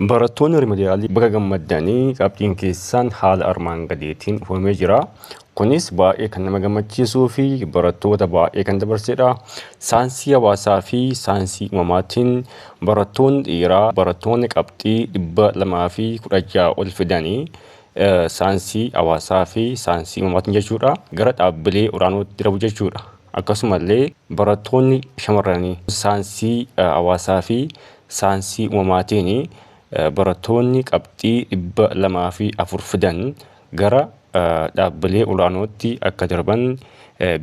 Barattoonni Rimidiyaalii baga gammaddan qabxiin keessan haala armaan gadiitiin dhufamee jira. Kunis baay'ee kan nama gammachiisuu fi barattoota baay'ee kan dabarsedha. Saayinsii hawaasaa fi saayinsii uumamaatiin barattoonni dhiiraa barattoonni qabxii 216 ol fidanii saayinsii hawaasaa fi saayinsii uumamaatiin jechuudha gara dhaabbilee olaanootti darbu jechuudha. Akkasumallee barattoonni shamarranii saayinsii hawaasaa fi saansii uumamaatiin baratoonni qabxii 204 fidan gara dhaabbilee olaanootti akka darban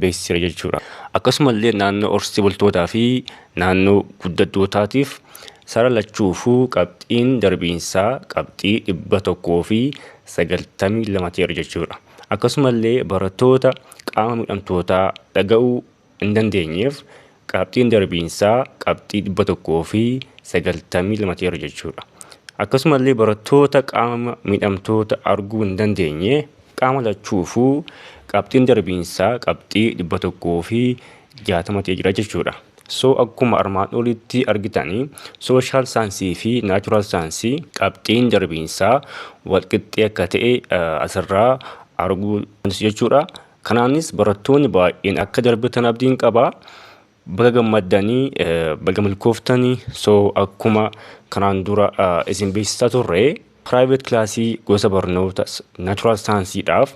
beeksiseera jechuudha. Akkasumallee naannoo horsiisee bultootaa fi naannoo guddattootaatiif sara lachuufuu qabxiin darbiinsaa qabxii 192 ta'eera jechuudha. Akkasumallee baratoota qaama miidhamtootaa dhaga'uu hin dandeenyeef qabxiin darbiinsaa qabxii 192 ta'eera jechuudha. Akkasumallee barattoota qaama miidhamtoota arguu hin dandeenye qaama lachuufuu qabxiin darbiinsaa qabxii 160 ta'ee jira jechuudha. So akkuma armaan olitti argitanii sooshaal saayinsii fi naachuraal saayinsii qabxiin darbiinsaa walqixxee akka ta'e asirraa arguu dandeessu jechuudha. Kanaanis barattoonni baay'een akka darbitan abdiin qaba. Baga gammaddanii baga milkooftanii so akkuma kanaan dura isin beeksisaa turre private kilaasii gosa barnoota natural saansiidhaaf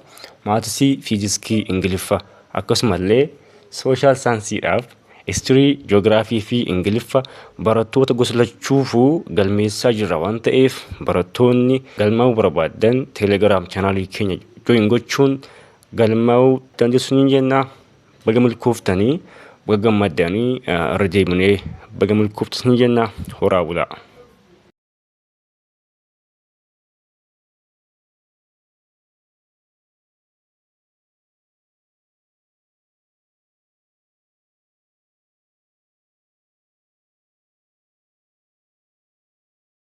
maatisii fiiziskii ingiliffa akkasumallee sooshaal saansiidhaaf istirii joogiraafii fi ingiliffa barattoota gosa lachuufuu galmeessaa jirra waan ta'eef barattoonni galmaa'uu barbaadan teelegiraam chaanaalii keenya join gochuun galmaa'uu dandeessu ni jenna. Baga milkooftanii baga gammaddanii irra deebinee baga milkooftas ni jenna. Horaa bulaa.